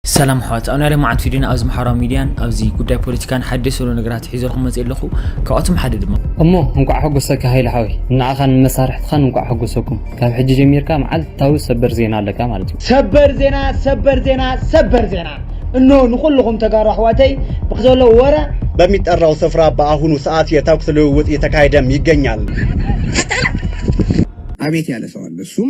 ሰላም ኣሕዋት ኣብ ናይ ሎምዓንቲ ቪድዮና ኣብዚ ማሕበራዊ ሚድያን ኣብዚ ጉዳይ ፖለቲካን ሓደስ ዘሎ ነገራት ሒዘልኩም መፅእ ኣለኹ ካብኣቶም ሓደ ድማ እሞ እንቋዕ ሐጎሰካ ሃይለ ሓወይ ንዓኻን ንመሳርሕትኻን እንቋዕ ሐጎሰኩም ካብ ሕጂ ጀሚርካ መዓልታዊ ሰበር ዜና ኣለካ ማለት እዩ። ሰበር ዜና ሰበር ዜና ሰበር ዜና እነሆ ንኹልኹም ተጋሩ ኣሕዋተይ ብዘሎ ወረ በሚጠራው ስፍራ በኣሁኑ ሰኣት የተኩስ ልውውጥ እየተካሄደም ይገኛል። አቤት ያለ ሰው አለ እሱም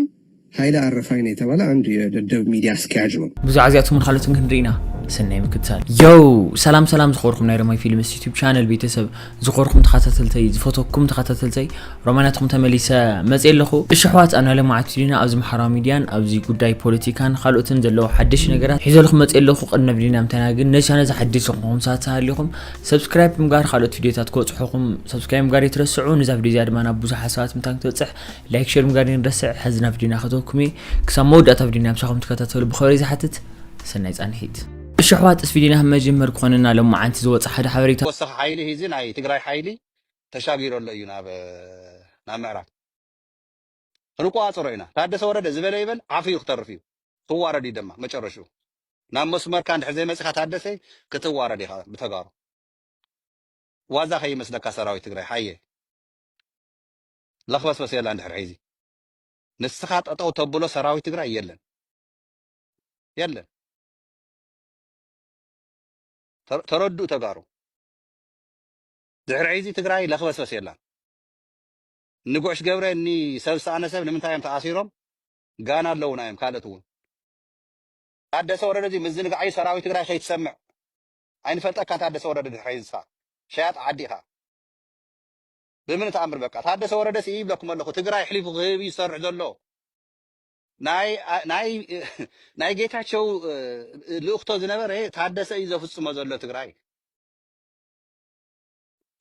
ሃይለ ኣረፋይነ የተባለ ኣንድ የደደብ ሚድያ ኣስኪያጅ ነው። ብዛዕባ እዚኣቶምን ካልኦትን ክንርኢ ኢና። ሰናይ ምክትታል። ዮው ሰላም ሰላም ዝኾርኩም ናይ ሮማይ ፊልምስ ዩቲዩብ ቻነል ቤተሰብ ዝኾርኩም ተኸታተልተይ ዝፈተኩም ተኸታተልተይ ሮማናትኩም ተመሊሰ መፅእ ኣለኹ እሺ ኣሕዋት ኣብ ናይ ሎማዓት ቪድዮና ኣብዚ ማሕበራዊ ሚድያን ኣብዚ ጉዳይ ፖለቲካን ካልኦትን ዘለዎ ሓደሽ ነገራት ሒዘልኩም መፅእ ኣለኹ ቅድሚ ቪድዮና ምታይና ግን ነዚ ቻነል ዝሓደሽ ዝኾንኩም ሰባት ተሃሊኹም ሰብስክራይብ ብምግባር ካልኦት ቪድዮታት ክበፅሑኹም ሰብስክራይብ ምግባር ይትረስዑ ንዛ ቪድዮ እዚኣ ድማ ናብ ብዙሓት ሰባት ምታን ክትበፅሕ ላይክ ሸር ምግባር ይንረስዕ ሕዚ ናብ ዲና ከተወኩሚ ክሳብ መወዳእታ ቪድዮና ምሳኹም ትከታተሉ ብኸበሪ ዝሓትት ሰናይ ጻንሒት እሺ ኣሕዋት እስፊ ዲና መጀመር ክኾነና ሎማዓንቲ ዝወጸ ሓደ ሓበሬታ። ተወሳኺ ሓይሊ ሂዚ ናይ ትግራይ ሓይሊ ተሻጊሩ ኣሎ እዩ ናብ ናብ ምዕራብ ክንቆፃፀሮ ኢና ታደሰ ወረደ ዝበለ ይበል ዓፍዩ ክተርፍ እዩ ክዋረድ እዩ ደማ መጨረሽኡ ናብ መስመርካ እንድሕር ዘይመፅካ ታደሰ ክትዋረድ ኢኻ ብተጋሩ ዋዛ ከይመስለካ ሰራዊት ትግራይ ሓየ ለኽበስበስ የላን ድሕሪ ሕይዚ ንስኻ ጠጠው ተብሎ ሰራዊት ትግራይ የለን የለን ተረድኡ ተጋሩ ድሕሪ ሕይዚ ትግራይ ለኽበስበስ የላን ንጉዕሽ ገብረ እኒ ሰብ ዝሰኣነ ሰብ ንምንታይ እዮም ተኣሲሮም ጋና ኣለውና እዮም ካልኦት እውን ታደሰ ወረደ እዚ ምዝንጋዕ እዩ ሰራዊት ትግራይ ከይትሰምዕ ኣይንፈልጠካን ታደሰ ወረደ ድሕሪ ሕይዚ ንስኻ ሸያጥ ዓዲ ኢኻ ብምኒ ተኣምር በቃ ታደሰ ወረደ ስኢ ይብለኩም ኣለኩ ትግራይ ኣሕሊፉ ክህብ እዩ ዝሰርሕ ዘሎ ናይ ናይ ናይ ጌታቸው ልእክቶ ዝነበረ ታደሰ እዩ ዘፍጽሞ ዘሎ ትግራይ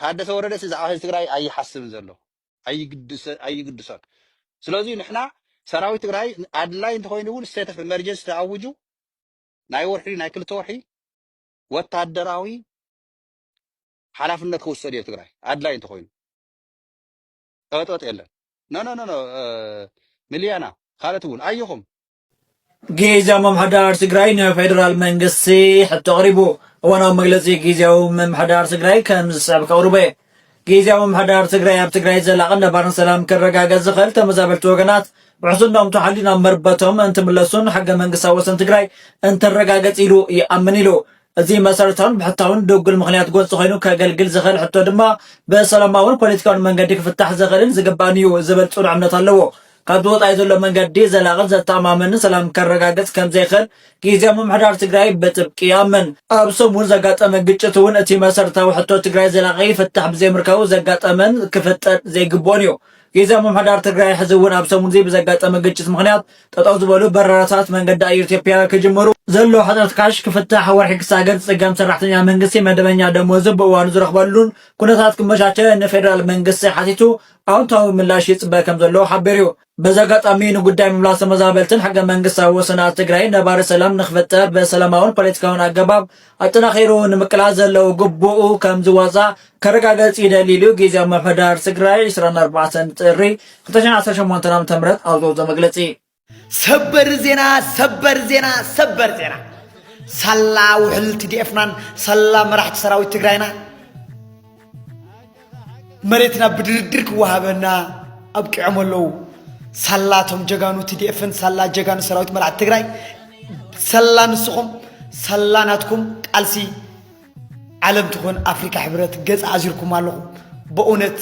ታደሰ ወረደ ሲ ብዛዕባ ህዝቢ ትግራይ ኣይሓስብን ዘሎ ኣይግድሰ ኣይግድሶን ስለዚ ንሕና ሰራዊት ትግራይ ኣድላይ እንተኮይኑ እውን ስቴት ኦፍ ኤመርጀንሲ ተኣውጁ ናይ ወርሒ ናይ ክልተ ወርሒ ወታደራዊ ሓላፍነት ክውሰድ እዮ ትግራይ ኣድላይ እንተኮይኑ ጸበጥበጥ የለን ኖኖኖኖ ሚልያና ካልኦት እውን ኣይኹም ጊዜያዊ ምምሕዳር ትግራይ ንፌደራል መንግስቲ ሕቶ ኣቕሪቡ። እዋናዊ መግለጺ ጊዜያዊ ምምሕዳር ትግራይ ከም ዝስዕብ ከቕርቦ እየ። ጊዜያዊ ምምሕዳር ትግራይ ኣብ ትግራይ ዘላቕን ነባርን ሰላም ክረጋገጽ ዝኽእል ተመዛበልቲ ወገናት ውሕስነኦም ተሓልዩ ናብ መርበቶም እንትምለሱን ሕገ መንግስታዊ ወሰን ትግራይ እንትረጋገጽ ኢሉ ይኣምን ኢሉ። እዚ መሰረታውን ብሕታውን ድጉል ምኽንያት ጎንፂ ኮይኑ ከገልግል ዝኽእል ሕቶ ድማ ብሰላማውን ፖለቲካውን መንገዲ ክፍታሕ ዝኽእልን ዝግባእን እዩ ዝብል ፅኑዕ እምነት ኣለዎ። ካብዚ ወፃኢ ዘሎ መንገዲ ዘላቕን ዘተኣማምንን ሰላም ከረጋግፅ ከምዘይኽእል ጊዚያዊ ምምሕዳር ትግራይ ብጥብቂ ይኣምን። ኣብ ሰሙን ዘጋጠመ ግጭት እውን እቲ መሰረታዊ ሕቶ ትግራይ ዘላቒ ፍታሕ ብዘይምርካቡ ዘጋጠመን ክፍጠር ዘይግብኦን እዩ። ጊዚያዊ ምምሕዳር ትግራይ ሕዚ እውን ኣብ ሰሙን እዚ ብዘጋጠመ ግጭት ምኽንያት ጠጠው ዝበሉ በረራታት መንገዲ ኣየር ኢትዮጵያ ክጅምሩ፣ ዘሎ ሕፅረት ካሽ ክፍታሕ፣ ወርሒ ክሳገር ዝፅገም ሰራሕተኛ መንግስቲ መደበኛ ደሞዙ ብእዋኑ ዝረኽበሉን ኩነታት ክመቻቸ ንፌደራል መንግስቲ ሓቲቱ ኣውንታዊ ምላሽ ይፅበ ከምዘሎ ሓቢሩ ዩ። በዚ ኣጋጣሚ ንጉዳይ ምምላስ ተመዛበልትን ሕገ መንግስታዊ ወሰናት ትግራይን ነባሪ ሰላም ንክፍጠር ብሰላማውን ፖለቲካውን ኣገባብ ኣጠናኺሩ ንምቅላስ ዘለዎ ግቡኡ ከም ዝዋፃእ ከረጋገፅ ይደሊ ኢሉ ግዜያዊ ምምሕዳር ትግራይ ዕስራን ኣርባዕተን ጥሪ ክልተ ሽሕን ዓሰርተ ሸሞንተን ዓመተ ምህረት ኣብ ዘውፀኦ መግለፂ። ሰበር ዜና ሰበር ዜና ሰበር ዜና ሳላ ውሕል ቲዲኤፍናን ሳላ መራሕቲ ሰራዊት ትግራይና መሬትና ብድርድር ክወሃበና ኣብቂዖም ኣለዉ። ሳላቶም ጀጋኑ ቲዲኤፍን ሳላ ጀጋኑ ሰራዊት መራሕቲ ትግራይ ሰላ ንስኹም ሰላ ናትኩም ቃልሲ ዓለም ትኾን ኣፍሪካ ሕብረት ገፅ ኣዚርኩም ኣለኹም። በእውነት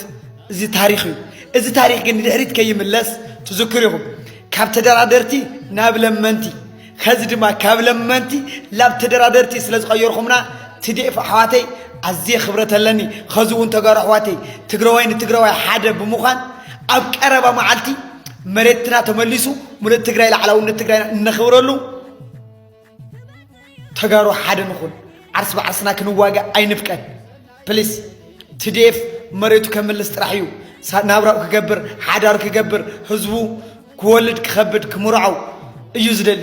እዚ ታሪክ እዩ። እዚ ታሪክ ግን ንድሕሪት ከይምለስ ትዝክር ኢኹም ካብ ተደራደርቲ ናብ ለመንቲ ከዚ ድማ ካብ ለመንቲ ላብ ተደራደርቲ ስለ ዝቀየርኹምና ትዴኤፍ ኣሕዋተይ ኣዝየ ክብረት ኣለኒ ከዚ እውን ተጋሩ ኣሕዋተይ ትግራዋይ ንትግራዋይ ሓደ ብምዃን ኣብ ቀረባ መዓልቲ መሬትና ተመሊሱ ሙሉእ ትግራይ ላዕላውነት ትግራይና እነኽብረሉ ተጋሩ ሓደ ንኹን ዓርስ ብዓርስና ክንዋጋእ ኣይንፍቀድ ፕሊስ ትዴፍ መሬቱ ከምልስ ጥራሕ እዩ ናብራኡ ክገብር ሓዳሩ ክገብር ህዝቡ ክወልድ ክኸብድ ክምርዖው እዩ ዝደሊ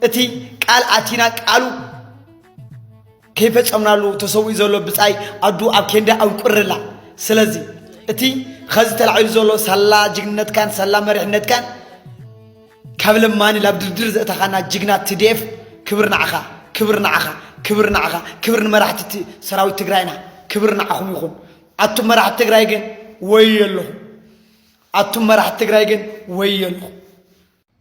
እቲ ቃል ኣቲና ቃሉ ከይፈፀምናሉ ተሰዊኡ ዘሎ ብፃይ ኣዱ ኣብ ኬንዳ ኣንቁርላ ስለዚ እቲ ኸዚ ተላዒሉ ዘሎ ሳላ ጅግንነትካን ሳላ መሪሕነትካን ካብ ለማኒ ላብ ድርድር ዘእተኻና ጅግና ትድኤፍ ክብር ንዓኻ ክብር ንዓኻ ክብር ንዓኻ ክብር ንመራሕቲ ሰራዊት ትግራይና ክብር ንዓኹም ይኹን ኣቱም መራሕቲ ትግራይ ግን ወዮልኹም ኣቱም መራሕቲ ትግራይ ግን ወዮልኹም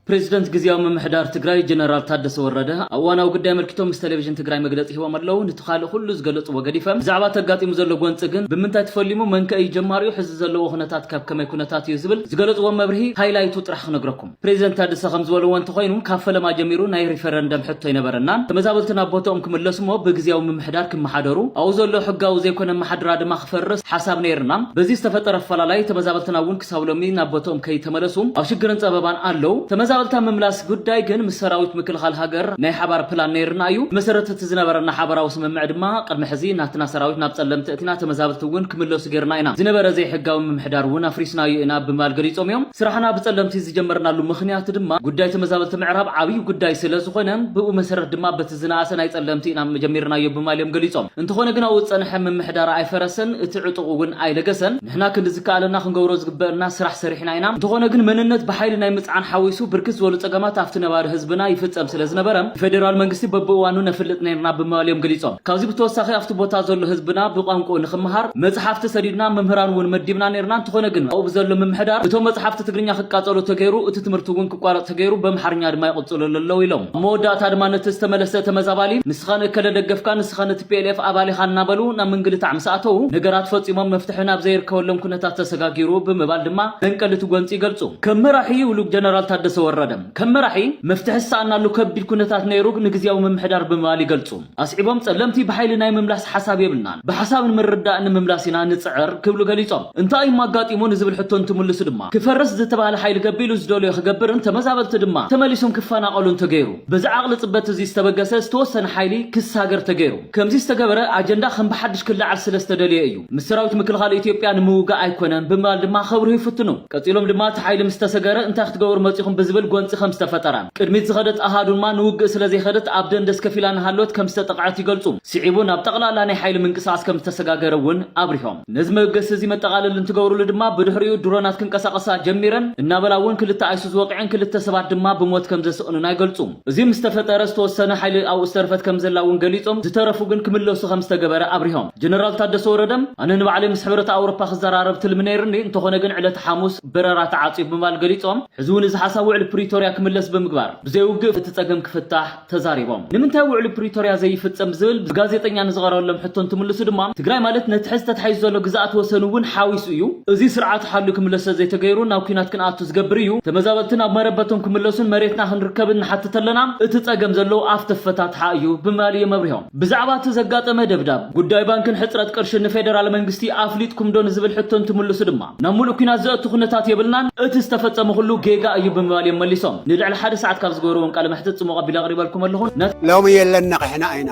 ፕሬዚደንት ግዜያዊ ምምሕዳር ትግራይ ጀነራል ታደሰ ወረደ ኣብ እዋናዊ ጉዳይ ኣመልኪቶም ምስ ቴሌቪዥን ትግራይ መግለፂ ሂቦም ኣለዉ። ንቲ ካልእ ኩሉ ዝገለፅዎ ገዲፈ ብዛዕባ እቲ ኣጋጢሙ ዘሎ ጎንፂ ግን ብምንታይ ተፈሊሙ መንከ እዩ ጀማሪኡ ሕዚ ዘለዎ ኩነታት ካብ ከመይ ኩነታት እዩ ዝብል ዝገለፅዎ መብርሂ ሃይላይቱ ጥራሕ ክነግረኩም ፕረዚደንት ታደሰ ከምዝበልዎ እንተኾይኑ ካብ ፈለማ ጀሚሩ ናይ ሪፈረንደም ሕቶ ኣይነበረናን ተመዛበልቲ ናብ ቦትኦም ክምለሱ እሞ ብግዝያዊ ምምሕዳር ክመሓደሩ ኣብኡ ዘሎ ሕጋዊ ዘይኮነ ኣመሓድራ ድማ ክፈርስ ሓሳብ ነይርና በዚ ዝተፈጠረ ኣፈላላይ ተመዛበልትና እውን ክሳብ ሎሚ ናብ ቦትኦም ከይተመለሱ ኣብ ሽግርን ፀበባን ኣለው ተመዛበልቲ ኣብ ምምላስ ጉዳይ ግን ምስ ሰራዊት ምክልኻል ሃገር ናይ ሓባር ፕላን ነይርና እዩ ብመሰረት እቲ ዝነበረና ሓበራዊ ስምምዕ ድማ ቅድሚ ሕዚ ናትና ሰራዊት ናብ ፀለምቲ ኩናት ተመዛበልቲ እውን ክምለሱ ገይርና ኢና፣ ዝነበረ ዘይሕጋዊ ምምሕዳር እውን ኣፍሪስናዮ ኢና ብምባል ገሊፆም እዮም። ስራሕና ብፀለምቲ ዝጀመርናሉ ምኽንያት ድማ ጉዳይ ተመዛበልቲ ምዕራብ ዓብዪ ጉዳይ ስለዝኾነ ብእኡ መሰረት ድማ በቲ ዝነኣሰ ናይ ፀለምቲ ኢና ጀሚርናዮ ብምባል እዮም ገሊፆም። እንተኾነ ግን ኣብኡ ዝፀንሐ ምምሕዳር ኣይፈረሰን፣ እቲ ዕጡቕ እውን ኣይለገሰን። ንሕና ክንዲ ዝከኣለና ክንገብሮ ዝግበእና ስራሕ ሰሪሕና ኢና። እንተኾነ ግን መንነት ብሓይሊ ናይ ምፅዓን ሓዊሱ ብርክት ዝበሉ ፀገማት ኣብቲ ነባሪ ህዝብና ይፍፀም ስለዝነበረ ንፌዴራል መንግስቲ በብእዋኑ ነፍልጥ ነይርና ብምባል እዮም ገሊፆም። ካብዚ ብተወሳኺ ኣብቲ ቦታ ዘሎ ህዝብና ብቋንቁኡ ንኽመሃር መፅሓፍቲ ሰዲድና መምህራን እውን መዲብና ነይርና እንትኾነ ግን ኣብኡ ብዘሎ ምምሕዳር እቶም መፅሓፍቲ ትግርኛ ክቃፀሉ ተገይሩ እቲ ትምህርቲ እውን ክቋረፅ ተገይሩ በምሓርኛ ድማ ይቕፅልሉ ኣለው ኢሎም። ኣብ መወዳእታ ድማ ነቲ ዝተመለሰ ተመዛባሊ ንስኻ ንእከለ ደገፍካ ንስኻ ንቲፒኤልኤፍ ኣባል ኢኻ እናበሉ ናብ ምንግልታዕ ምስ ኣተው ነገራት ፈፂሞም መፍትሒ ናብ ዘይርከበሎም ኩነታት ተሰጋጊሩ ብምባል ድማ መንቀሊ እቲ ጎንፂ ይገልፁ። ከም መራሒ ይብሉ ጀነራል ታደሰ ወረደ። ከም መራሒ መፍትሒ ዝሰኣናሉ ከቢድ ኩነታት ነይሩ ንግዝያዊ ምምሕዳር ብምባል ይገልፁ። ኣስዒቦም ፀለምቲ ብሓይሊ ናይ ምምላስ ሓሳብ የብልናን፣ ብሓሳብን ምርድዳእን ንምምላስ ኢና ንፅዕር ክብሉ ገሊፆም። እንታይ እዩ'ሞ ኣጋጢሙ ንዝብል ሕቶ እንትምልሱ ድማ፣ ክፈርስ ዝተብሃለ ሓይሊ ገቢሉ ዝደልዮ ክገብርን ተመዛበልቲ ድማ ተመሊሶም ክፈናቐሉን ተገይሩ። በዚ ዓቕሊ ፅበት እዙይ ዝተበገሰ ዝተወሰነ ሓይሊ ክሳገር ተገይሩ። ከምዙይ ዝተገበረ ኣጀንዳ ከም ብሓዱሽ ክለዓል ስለዝተደለየ እዩ። ምስ ሰራዊት ምክልኻል ኢትዮጵያ ንምውጋእ ኣይኮነን ብምባል ድማ ከብርሁ ይፍትኑ። ቀጺሎም ድማ እቲ ሓይሊ ምስ ተሰገረ እንታይ ክትገብሩ መጺኹም ብዝብል ጎንጺ ከም ዝተፈጠረ፣ ቅድሚት ዝኸደት ኣሃዱ ድማ ንውግእ ስለ ዘይኸደት ኣብ ደንደስ ከፍ ኢላ እናሃለወት ከም ዝተጠቕዐት ይገልጹ። ስዒቡ ናብ ጠቕላላ ናይ ሓይሊ ምንቅስቓስ ከም ዝተሰጋገረ እውን ኣብሪሆም። ነዚ መበገሲ እዚ መጠቓለሊ እንትገብሩሉ ድማ ብድሕሪኡ ድሮናት ክንቀሳቐሳ ጀሚረን እናበላ እውን ክልተ ኣይሱዙ ወቒዐን ክልተ ሰባት ድማ ብሞት ከም ዘስቕንና ይገልጹ። እዚ ምስ ተፈጠረ ዝተወሰነ ሓይሊ ኣብኡ ዝተረፈት ከም ዘላ እውን ገሊጾም፣ ዝተረፉ ግን ክምለሱ ከም ዝተገበረ ኣብሪሆም። ጀነራል ታደሰ ወረደ፣ ኣነ ንባዕለይ ምስ ሕብረት ኣውሮፓ ክዘራረብ ትልሚ ነይርኒ፣ እንተኾነ ግን ዕለተ ሓሙስ በረራ ተዓጽዩ ብምባል ገሊጾም። ሕዚ እውን እዚ ሓሳብ ውዕሊ ፕሪቶርያ ክምለስ ብምግባር ብዘይ ውግእ እቲ ጸገም ክፍታሕ ተዛሪቦም። ንምንታይ ውዕሊ ፕሪቶርያ ዘይፍጸም ብዝብል ብጋዜጠኛ ንዝቐረበሎም ሕቶ እንትምልሱ ድማ፣ ትግራይ ማለት ነቲ ሕዚ ተታሒዙ ዘሎ ግዝኣት ወሰን እውን ሓዊሱ እዩ፣ እዚ ስርዓቱ ሓልዩ ክምለስ ስለዘይተገይሩ ናብ ኲናት ክንኣቱ ዝገብር እዩ። ተመዛበልቲ ናብ መረበቶም ክምለሱን መሬትና ክንርከብን ንሓትት ኣለና፣ እቲ ጸገም ዘሎ ኣፍ ተፈታትሓ እዩ ብምባል እዮም ኣብሪሆም። ብዛዕባ እቲ ዘጋጠመ ደብዳብ፣ ጉዳይ ባንክን ሕጽረት ቅርሽን ንፌደራል መንግስቲ ኣፍሊጥኩምዶ ንዝብል ሕቶ እንትምልሱ ድማ፣ ናብ ምሉእ ኲናት ዘእቱ ኩነታት የብልናን፣ እቲ ዝተፈጸመ ኩሉ ጌጋ እዩ ብምባል እዮም መሊሶም። ንልዕሊ ሓደ ሰዓት ካብ ዝገበርዎም ቃለ መሕትት ጽሙቕ ኣቢለ ኣቕሪበልኩም ኣለኹ። ሎሚ የለን ነቒሕና ኢና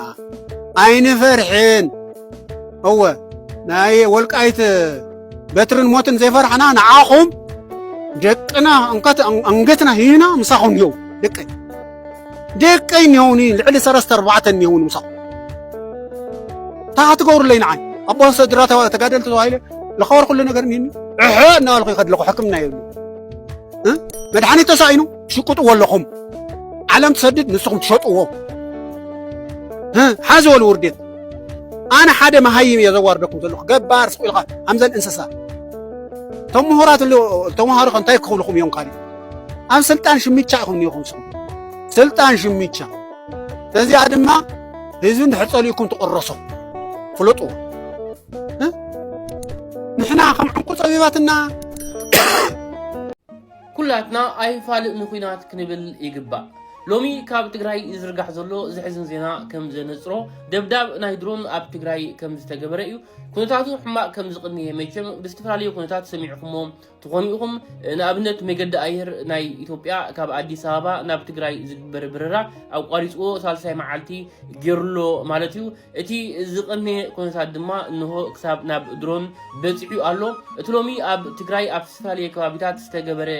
ኣይንፈርሕን። እወ ናይ ወልቃይት በትርን ሞትን ዘይፈራሕና ንዓኹም ደቅና እንከት ኣንገትና ሂና ምሳኹም ኒው ደቀይ ደቀይ ኒውኒ ልዕሊ ሰለስተ ኣርባዕተ ኒውኒ ምሳኹም እታ ክትገብሩለይ ንዓይ ኣቦ ስድራ ተጋደልቲ ተባሂለ ዝኸበር ኩሉ ነገር ኒኒ ዕሐ እናበልኩ ይኸድለኹ ሕክምና የብሉ መድሓኒት ተሳኢኑ ሽቅጥዎ ኣለኹም ዓለም ትሰድድ ንስኹም ትሸጥዎ ሓዚ ወሉ ውርዴት ኣነ ሓደ መሃይም እየ ዘዋርደኩም ዘለኹ ገባር ስቕ ኢልካ ከምዘን እንስሳ ተምሁራት ተምሃሮ ከ እንታይ ክኽብልኹም እዮም ካሊእ ኣብ ስልጣን ሽምቻ ኢኹም ኒኹም ስኹም ስልጣን ሽምቻ እዚኣ ድማ ህዝቢ እንድሕር ጸሊእኩም ትቕረሶ ፍለጡ ንሕና ከም ዕንቁ ጸቢባትና ኩላትና ኣይፋል ንኩናት ክንብል ይግባእ። ሎሚ ካብ ትግራይ ዝዝርጋሕ ዘሎ ዘሕዝን ዜና ከም ዘነጽሮ ደብዳብ ናይ ድሮን ኣብ ትግራይ ከም ዝተገበረ እዩ። ኩነታቱ ሕማቅ ከም ዝቅንየ መቸም ብዝተፈላለዩ ኩነታት ሰሚዕኩሞ ትኾኑ ኢኹም። ንኣብነት መገዲ ኣየር ናይ ኢትዮጵያ ካብ ኣዲስ ኣበባ ናብ ትግራይ ዝግበር በረራ ኣቋሪጽዎ ሳልሳይ መዓልቲ ጌሩሎ ማለት እዩ። እቲ ዝቐነየ ኩነታት ድማ እንሆ ክሳብ ናብ ድሮን በጺሑ ኣሎ። እቲ ሎሚ ኣብ ትግራይ ኣብ ዝተፈላለየ ከባቢታት ዝተገበረ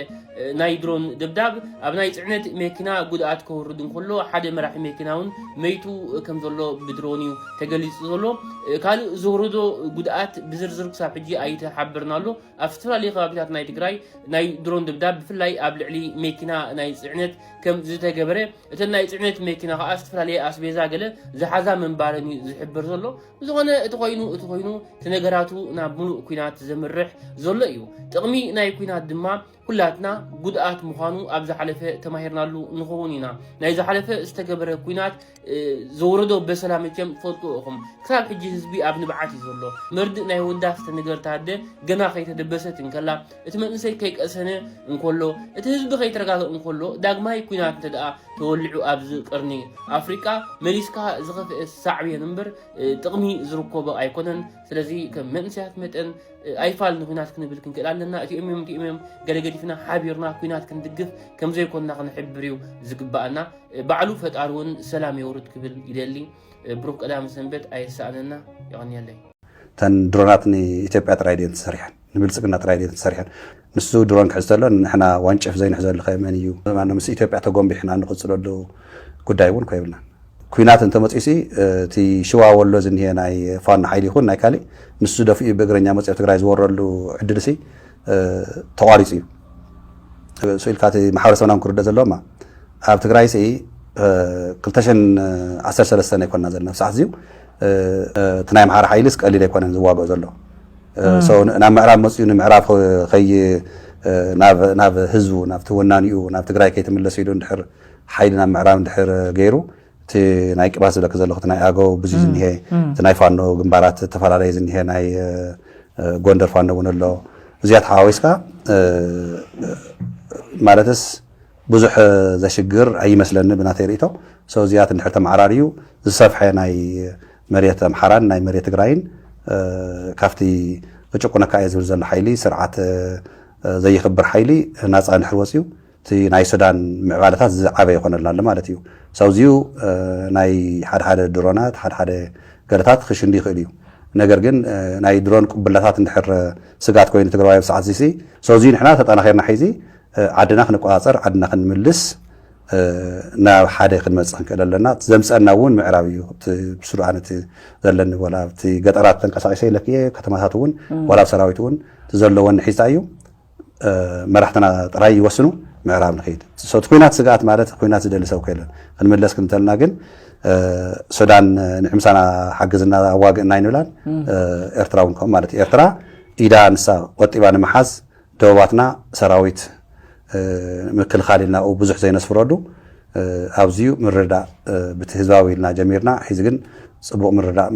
ናይ ድሮን ደብዳብ ኣብ ናይ ጽዕነት መኪና ጉድኣት ከውርድ እንከሎ ሓደ መራሒ መኪና እውን መይቱ ከም ዘሎ ብድሮን እዩ ተገሊጹ ዘሎ። ካልእ ዘውረዶ ጉድኣት ብዝርዝር ክሳብ ሕጂ ኣይተሓበርን ኣሎ። ኣብ ዝተፈላለየ ከባቢታት ናይ ትግራይ ናይ ድሮን ደብዳብ ብፍላይ ኣብ ልዕሊ መኪና ናይ ጽዕነት ከም ዝተገበረ እተን ናይ ፅዕነት መኪና ከዓ ዝተፈላለየ ኣስቤዛ ገለ ዝሓዛ ምንባረን እዩ ዝሕብር ዘሎ ብዝኾነ እቲ ኮይኑ እቲ ኮይኑ እቲ ነገራቱ ናብ ሙሉእ ኩናት ዘምርሕ ዘሎ እዩ ጥቕሚ ናይ ኩናት ድማ ኩላትና ጉድኣት ምዃኑ ኣብ ዝሓለፈ ተማሂርናሉ ንኸውን ኢና ናይ ዝሓለፈ ዝተገበረ ኩናት ዘውረዶ በሰላ መቸም ትፈልጡ እኹም ክሳብ ሕጂ ህዝቢ ኣብ ንብዓት እዩ ዘሎ መርድእ ናይ ወዳ ዝተነገርታ ኣደ ገና ከይተደበሰት እንከላ እቲ መንእሰይ ከይቀሰነ እንከሎ እቲ ህዝቢ ከይተረጋግእ እንከሎ ዳግማይ ኩናት እንተ ደኣ ተወሊዑ ኣብዚ ቅርኒ ኣፍሪቃ መሊስካ ዝኸፍአ ሳዕቤን እምበር ጥቕሚ ዝርከቦ ኣይኮነን ስለዚ ከም መንእሰያት መጠን ኣይፋል ንኩናት ክንብል ክንክእል ኣለና እቲኦም እዮም እቲኦም እዮም ገለ ገዲፍና ሓቢርና ኩናት ክንድግፍ ከምዘይኮንና ክንሕብር እዩ ዝግባኣና ባዕሉ ፈጣሪ እውን ሰላም የውርድ ክብል ይደሊ ብሩክ ቀዳም ሰንበት ኣይሳኣነና የቀንየለይ። እተን ድሮናት ንኢትዮጵያ ጥራይ ድየን ተሰሪሐን ንብልፅግና ጥራይ ድየን ተሰሪሐን ንሱ ድሮን ክሕዝ ተሎ ንሕና ዋንጭፍ ዘይንሕዘሉ ከ መን እዩ ማነው ምስ ኢትዮጵያ ተጎንቢሕና ንቕፅለሉ ጉዳይ እውን ኮይብልና ኩናት እንተመፅኡ ሲ እቲ ሽዋ ወሎ ዝኒሄ ናይ ፋኖ ሓይሊ ይኹን ናይ ካሊእ ንሱ ደፊኡ ብእግረኛ መፅኦ ትግራይ ዝወረሉ ዕድል ሲ ተቋሪፁ እዩ ስኢልካ እቲ ማሕበረሰብና ክርደእ ዘለዎማ ኣብ ትግራይ ሲ 213 ኣይኮና ዘለና ሰዓት እዚዩ እቲ ናይ ኣምሓራ ሓይሊስ ቀሊል ኣይኮነን ዝዋግኦ ዘሎ ናብ ምዕራብ መፅኡ ንምዕራብ ከይ ናብ ህዝቡ ናብቲ ወናኒኡ ናብ ትግራይ ከይትምለስ ኢሉ እንድሕር ሓይሊ ናብ ምዕራብ እንድሕር ገይሩ እቲ ናይ ቅባት ዝብለኪ ዘለኹ እቲ ናይ ኣገው ብዙይ ዝኒሀ እቲ ናይ ፋኖ ግንባራት ዝተፈላለየ ዝኒሀ ናይ ጎንደር ፋኖ እውን ኣሎ እዚኣ ተሓዋዊስካ ማለትስ ብዙሕ ዘሽግር ኣይመስለኒ ብናተይ ርእቶ ሰው እዚኣት እንድሕር ተመዓራርዩ ዝሰፍሐ ናይ መሬት ኣምሓራን ናይ መሬት ትግራይን ካብቲ ክጭቁነካ እየ ዝብል ዘሎ ሓይሊ ስርዓት ዘይኽብር ሓይሊ ናፃ እንድሕር ወፅዩ እቲ ናይ ሱዳን ምዕባለታት ዝዓበየ ኮነልና ኣሎ ማለት እዩ። ሳውዚዩ ናይ ሓደሓደ ድሮናት ሓደሓደ ገለታት ክሽንዲ ይኽእል እዩ። ነገር ግን ናይ ድሮን ቁብላታት እንድሕር ስግኣት ኮይኑ ትግራዋይ ኣብ ሰዓት እዚሲ ሳውዚዩ ንሕና ተጣናኺርና ሕይዚ ዓድና ክንቆፃፀር ዓድና ክንምልስ ናብ ሓደ ክንመፅእ ክንክእል ኣለና። እቲ ዘምፀና እውን ምዕራብ እዩ። እቲ ብሱዳን እቲ ዘለኒ ወላ ኣብቲ ገጠራት ተንቀሳቂሰ ኢለኪ እየ ከተማታት እውን ወላ ኣብ ሰራዊት እውን እቲ ዘለወኒ ሒዝታ እዩ። መራሕትና ጥራይ ይወስኑ ምዕራብ ንኸይድ ሶቲ ኩናት ስግኣት ማለት ኩናት ዝደሊ ሰብ ከለን ክንምለስ ክንተልና ግን ሱዳን ንዕምሳና ሓግዝና ኣዋግእና ይንብላን ኤርትራ እውን ከምኡ ማለት ኤርትራ ኢዳ ንሳ ቆጢባ ንምሓዝ ደቡባትና ሰራዊት ምክልኻል ኢልና ብዙሕ ዘይነስፍረሉ ኣዚዩ ምርዳእ ብቲ ህዝባዊ ኢልና ጀሚርና ሒዚ ግን ጽቡቅ ምርዳእ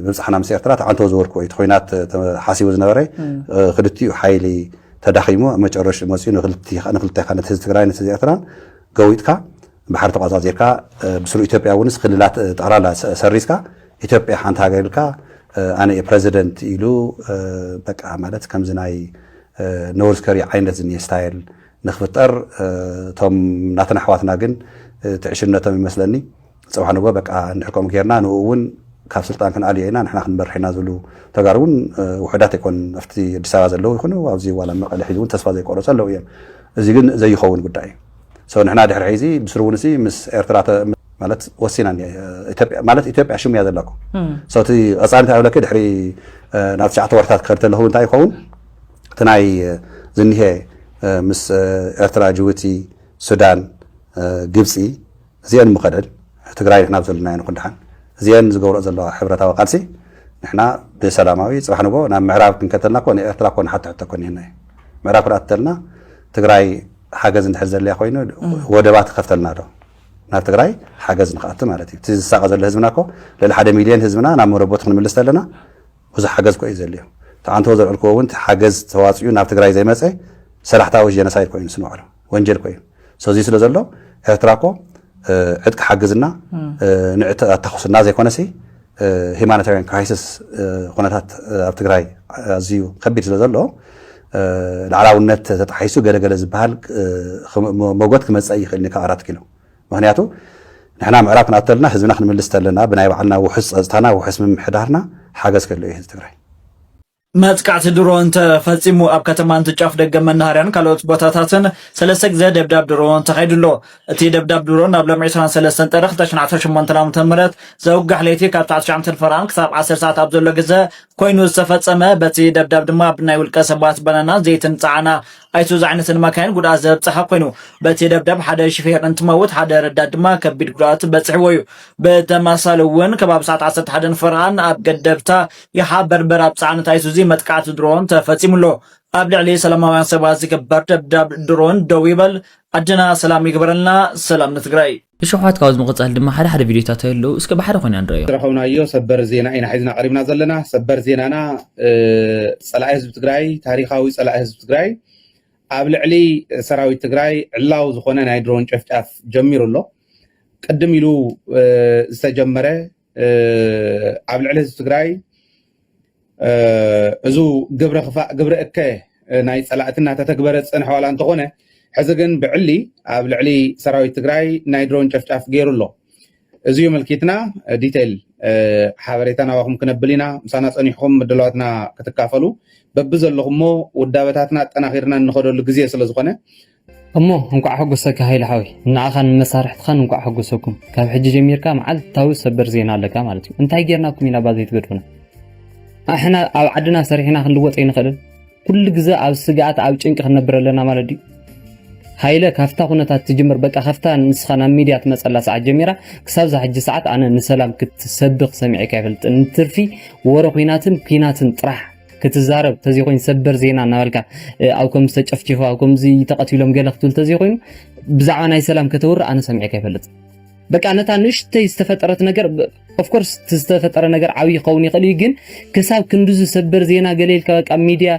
ምብጻሕና ምስ ኤርትራ ተዓንተው ዝበልኩዎ እዩ። እቲ ኹናት ተሓሲቡ ዝነበረ ክልቲኡ ሓይሊ ተዳኺሙ ኣብ መጨረሽኡ መጺኡ ንክልቴኻ ነቲ ህዝቢ ትግራይ ነቲ ህዝቢ ኤርትራን ገዊጥካ ባሕሪ ተቋጻጺርካ ብስሩ ኢትዮጵያ እውንስ ክልላት ጠቕላላ ሰሪዝካ ኢትዮጵያ ሓንቲ ሃገር ኢልካ ኣነ እየ ፕረዚደንት ኢሉ በቃ ማለት ከምዚ ናይ ኖርዝ ከሪ ዓይነት ዝኒሄ ስታይል ንክፍጠር እቶም ናትና ኣሕዋትና ግን እቲ ዕሽነቶም ይመስለኒ ፅባሕ ንግሆ በቃ እንድሕር ከምኡ ጌርና ንኡ እውን ካብ ስልጣን ክንኣልዮ ኢና ንሕና ክንመርሕ ኢና ዝብሉ ተጋሩ እውን ውሑዳት ኣይኮን ኣብቲ ኣዲስ ኣበባ ዘለዉ ይኹኑ ኣብዚ ዋላ መቐለ ሕዚ እውን ተስፋ ዘይቆረፁ ኣለዉ እዮም እዚ ግን ዘይኸውን ጉዳይ እዩ ሰው ንሕና ድሕሪ ሕዚ ብስሩ እውን ሲ ምስ ኤርትራ ማለት ወሲና ኢትዮጵያ ማለት ኢትዮጵያ ሽሙ እያ ዘለኩ ሰው እቲ ቀፃሊት ኣይብለኪ ድሕሪ ናብ ትሽዓተ ወርታት ክኸድ ተለኹ እንታይ ይኸውን እቲ ናይ ዝኒሀ ምስ ኤርትራ፣ ጅቡቲ፣ ሱዳን፣ ግብጺ እዚኤን ምኸደን ትግራይ ንሕና ኣብ ዘለናዮ ንኹን ደሓን እዚኤን ዝገብረኦ ዘለዋ ሕብረታዊ ቃልሲ ንሕና ብሰላማዊ ጽባሕ ንግሆ ናብ ምዕራብ ክንከተልና እኮ ንኤርትራ እኮ ንሓቶ ሕቶ እኮ እኒሀና እዩ ምዕራብ ክድኣ ትተልና ትግራይ ሓገዝ እንድሕር ዘድልያ ኮይኑ ወደባት ትኸፍተልና ዶ ናብ ትግራይ ሓገዝ ንክኣቱ ማለት እዩ እቲ ዝሳቐ ዘሎ ህዝብና እኮ ልዕሊ ሓደ ሚልዮን ህዝብና ናብ መረቦቱ ክንምልስ ተለና ብዙሕ ሓገዝ እኮ እዩ ዘድልዮ እቲ ኣንተዎ ዘልዕልክዎ እውን እቲ ሓገዝ ተዋፂኡ ናብ ትግራይ ዘይመፀ ሰላሕታዊ ጀነሳይድ እኮ እዩ ንሱ ንባዕሉ ወንጀል እኮ እዩ ሶ እዙይ ስለ ዘሎ ኤርትራ እኮ ዕጥቂ ሓግዝና ንዕጥቂ ኣታኹስና ዘይኮነሲ ሂማኒታሪያን ክራይሲስ ኩነታት ኣብ ትግራይ ኣዝዩ ከቢድ ስለ ዘሎ ላዕላውነት ተጣሒሱ ገለገለ ዝበሃል መጎት ክመፀእ ይኽእል ካብ ኣራት ኪሎ ምክንያቱ ንሕና ምዕራብ ክንኣቱ ተለና ህዝብና ክንምልስ ተለና ብናይ ባዕልና ውሑስ ፀፅታና ውሑስ ምምሕዳርና ሓገዝ ከሎ እዩ ህዝቢ ትግራይ መጥቃዕቲ ድሮን ተፈጺሙ ኣብ ከተማ እንትጫፍ ደገ መናሃርያን ካልኦት ቦታታትን ሰለስተ ግዜ ደብዳብ ድሮን ተኻይዱ ኣሎ። እቲ ደብዳብ ድሮን ኣብ ሎሚ ዕስራን ሰለስተን ጥሪ ክልተ ሽሕን ዓሰርተ ሸሞንተን ዓመተ ምህረት ዘውጋሕ ለይቲ ካብ ትሽዓተ ትሽዓተ ፈረቓን ክሳብ ዓሰርተ ሰዓት ኣብ ዘሎ ግዘ ኮይኑ ዝተፈጸመ በቲ ደብዳብ ድማ ብናይ ውልቀ ሰባት ባናናን ዘይትን ጸዓና ኣይሱዙ ዝዓይነተን ማካይን ጉድኣት ዘብፀሐ ኮይኑ በቲ ደብደብ ሓደ ሽፌር እንትመውት ሓደ ረዳት ድማ ከቢድ ጉድኣት በፅሕዎ እዩ። ብተመሳሳሊ እውን ከባቢ ሰዓት ዓሰርተ ሓደን ፈረቓን ኣብ ገደብታ ይሓ በርበር ኣብ ፀዓነት ኣይሱዚ መጥቃዕቲ ድሮን ተፈፂሙ ኣሎ። ኣብ ልዕሊ ሰላማውያን ሰባት ዝግበር ደብዳብ ድሮን ደው ይበል፣ ዓድና ሰላም ይግበረልና፣ ሰላም ንትግራይ! ብሸውዓት ካብዚ ምቅጻል ድማ ሓደ ሓደ ቪድዮታት ኣየለዉ እስከ ብሓደ ኮይና ንረኣዮም። ዝረኸብናዮ ሰበር ዜና ኢና ሒዝና ቀሪብና ዘለና። ሰበር ዜናና ፀላኢ ህዝቢ ትግራይ ታሪኻዊ ፀላኢ ህዝቢ ትግራይ ኣብ ልዕሊ ሰራዊት ትግራይ ዕላዊ ዝኾነ ናይ ድሮን ጨፍጫፍ ጀሚሩ ኣሎ። ቅድም ኢሉ ዝተጀመረ ኣብ ልዕሊ ህዝቢ ትግራይ እዙ ግብረ ክፋእ ግብረ እከ ናይ ፀላእቲ እናተተግበረ ዝፀንሐ ዋላ እንተኾነ ሕዚ ግን ብዕሊ ኣብ ልዕሊ ሰራዊት ትግራይ ናይ ድሮን ጨፍጫፍ ገይሩ ኣሎ እዚ እዩ ምልኪትና ዲቴይል ሓበሬታ ናባኹም ክነብል ኢና ምሳና ፀኒሕኹም ምድለዋትና ክትካፈሉ በቢ ዘለኹሞ ውዳበታትና ኣጠናኺርና እንኸደሉ ግዜ ስለዝኾነ እሞ እንቋዕ ሐጎሰካ ሃይለ ሓወይ ንዓኻን ንመሳርሕትኻን እንቋዕ ሐጎሰኩም ካብ ሕጂ ጀሚርካ መዓልታዊ ሰበር ዜና ኣለካ ማለት እዩ እንታይ ጌርናኩም ኢና እባ ዘይትገድፉና ኣሕና ኣብ ዓድና ሰሪሕና ክንልወጥ ኣይንኽእልን ኩሉ ግዘ ኣብ ስግኣት ኣብ ጭንቂ ክንነብር ኣለና ማለት ድዩ ሃይለ ካብታ ኩነታት ትጅምር በቃ ካብታ ንስኻ ናብ ሚድያ ትመፀላ ሰዓት ጀሚራ ክሳብ ዛ ሕጂ ሰዓት ኣነ ንሰላም ክትሰብኽ ሰሚዐካ ይፈልጥ ንትርፊ ወረ ኩናትን ኩናትን ጥራሕ ክትዛረብ ተዘይኮይኑ ሰበር ዜና እናበልካ ኣብ ከም ዝተጨፍጨፉ ኣብ ከምዚ ተቐቲሎም ገለ ክትብል ተዘይኮይኑ ብዛዕባ ናይ ሰላም ከተውሪ ኣነ ሰሚዐካ ይፈልጥ በቃ ነታ ንእሽተይ ዝተፈጠረት ነገር ኦፍኮርስ ዝተፈጠረ ነገር ዓብይ ይኸውን ይኽእል እዩ ግን ክሳብ ክንድዚ ሰበር ዜና ገሌልካ በቃ ሚድያ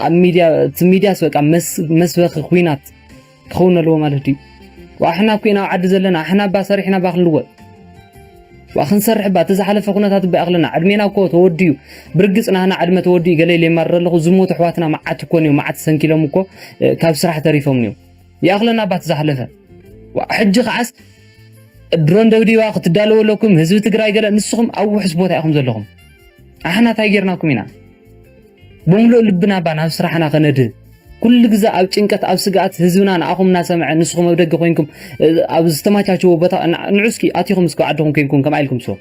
ኣብ ሚድያ እቲ ሚድያስ በቃ መስበኺ ኩናት ክኸውን ኣለዎ ማለት ድዩ ዋእ ኣሕና ኩና ኣብ ዓዲ ዘለና ኣሕና እባ ሰሪሕና እባ ክንልወጥ ዋእ ክንሰርሕ እባ እቲ ዝሓለፈ ኩነታት እባ ይኣኽለና ዕድሜና እኮ ተወዲኡ ብርግፅ ናህና ዕድመ ተወዲኡ ገለ ኢለ የማርር ኣለኹ ዝሞቱ ኣሕዋትና መዓት እኮ እኒኦም መዓት ሰንኪሎም እኮ ካብ ስራሕ ተሪፎም እኒኦም ይኣኽለና እባ እቲ ዝሓለፈ ዋእ ሕጂ ከዓስ ድሮን ደብዲባ ክትዳለዎ ኣለኩም ህዝቢ ትግራይ ገለ ንስኹም ኣብ ውሕስ ቦታ ኢኹም ዘለኹም ኣሕና እንታይ ጌርናኩም ኢና ብምሉእ ልብና እባ ናብ ስራሕና ከነድህብ ኩሉ ግዜ ኣብ ጭንቀት ኣብ ስግኣት ህዝብና ንኣኹም እናሰምዐ ንስኹም ኣብ ደገ ኮይንኩም ኣብ ዝተመቻቸወ ቦታ ንዑ እስኪ ኣቲኹም እስኪ ዓድኹም ኮይንኩም ከምኣ ኢልኩም ስሩ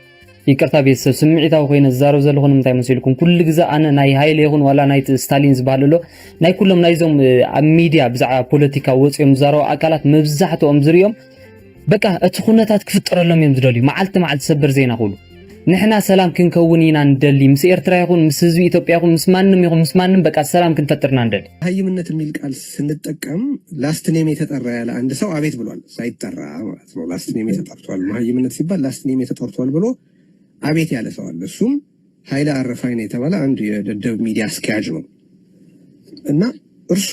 ይቅርታ ቤተሰብ ስምዒታዊ ኮይነ ዝዛረብ ዘለኹ ንምንታይ መሲልኩም ኩሉ ግዜ ኣነ ናይ ሃይለ ይኹን ዋላ ናይ ስታሊን ዝበሃል ኣሎ ናይ ኩሎም ናይዞም ኣብ ሚድያ ብዛዕባ ፖለቲካ ወፂኦም ዝዛረቡ ኣካላት መብዛሕትኦም ዝርኦም በቃ እቲ ኩነታት ክፍጠረሎም እዮም ዝደልዩ መዓልቲ መዓልቲ ሰበር ዜና ኩሉ ንሕና ሰላም ክንከውን ኢና ንደሊ ምስ ኤርትራ ይኹን ምስ ህዝቢ ኢትዮጵያ ይኹን ምስ ማንም ይኹን ምስ ማንም በቃ ሰላም ክንፈጥር ኢና ንደሊ። መሃይምነት የሚል ቃል ስንጠቀም ላስት ኔሜ ተጠራ ያለ አንድ ሰው አቤት ብሏል ሳይጠራ ማለት ነው ላስት ኔሜ ተጠርቷል መሃይምነት ሲባል ላስት ኔሜ ተጠርቷል ብሎ አቤት ያለ ሰው አለ እሱም ኃይለ አረፋይነ የተባለ አንድ የደደብ ሚዲያ አስኪያጅ ነው እና እርሱ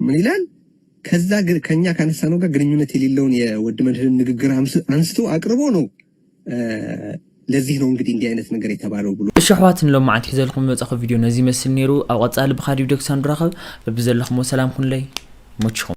ምን ይላል ከዛ ከኛ ካነሳነው ጋር ግንኙነት የሌለውን የወድ መድህንን ንግግር አንስቶ አቅርቦ ነው ለዚህ ነው እንግዲህ እንዲህ አይነት ነገር የተባለው ብሎ እሺ ኣሕዋት ንሎማዓንቲ ሒዘልኩም ዝመጻኹ ቪድዮ ነዚ ይመስል ነይሩ ኣብ ቐጻሊ ብኻልእ ቪድዮ ክሳብ ንራኸብ በብዘለኹሞ ሰላም ኩኑለይ ይመችኹም